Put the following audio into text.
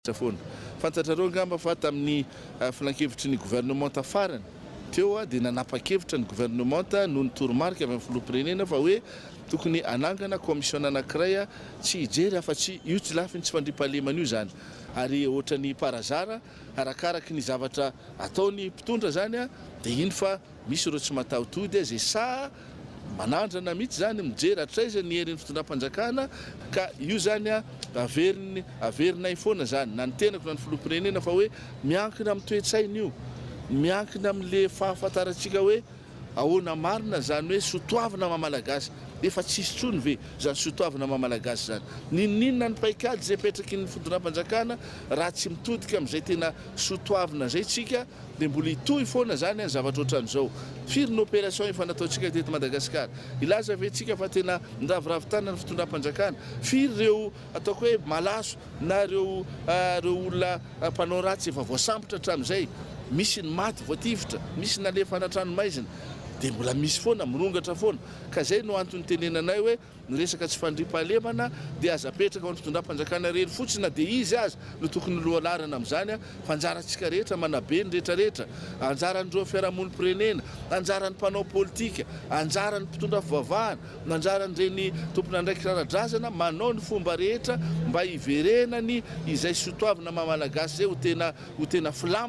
Fantatra foana. Fantatrareo angamba fa tamin'ny filankevitry ny governemanta farany teo dia nanapa-kevitra ny governemanta noho ny toromarika avy amin'ny filoham-pirenena fa hoe tokony hanangana kaomisiona anankiray tsy hijery afa-tsy io tsy lafiny tsy fandriampahalemana io izany ary ohatran'ny par hasard arakaraky ny zavatra ataony mpitondra izany dia hino fa Misy ireo tsy mataho-tody azy saha manandrana mihitsy izany mijery hatraiza ny herin'ny fitondram-panjakana ka io izany averiny averinay foana izany na ny tenako na ny filoham-pirenena fa hoe miankina amin'ny toe-tsaina io, miankina amin'le fahafantarantsika hoe ahoana marina izany hoe sotoavina maha-malagasy, efa tsy hisy intsony ve izany sotoavina maha-malagasy izany? N'inon'inona ny paikady izay apetrakin'ny fitondram-panjakana raha tsy mitodika amin'izay tena sotoavina izay tsika? Dia mbola hitohy foana izany an zavatra ohatran'izao. Firy ny opération efa nataontsika teto Madagasikara? Hilaza ve tsika fa tena niraviravy tanana ny fitondram-panjakana? Firy ireo ataoko hoe malaso na ireo ireo olona mpanao ratsy efa voasambotra hatramin'izay? Misy ny maty voatifitra, misy nalefa anatranomaizina. Dia mbola misy foana, mirongatra foana. Ka izay no antony itenenanay hoe. Ny resaka tsy fandriampahalemana dia aza apetraka ho an'ny fitondram-panjakana irery fotsiny na dia izy aza no tokony ho lohalaharana amin'izany fa anjarantsika rehetra manabe ny rehetra rehetra, anjaran'ireo fiarahamonim-pirenena, anjaran'ny mpanao politika, anjaran'ny mpitondra fivavahana, anjaran'ireny tompon'andraikitra ara-drazana manao ny fomba rehetra mba hiverenany izay sotoavina maha-malagasy izay ho tena ho tena filamatra.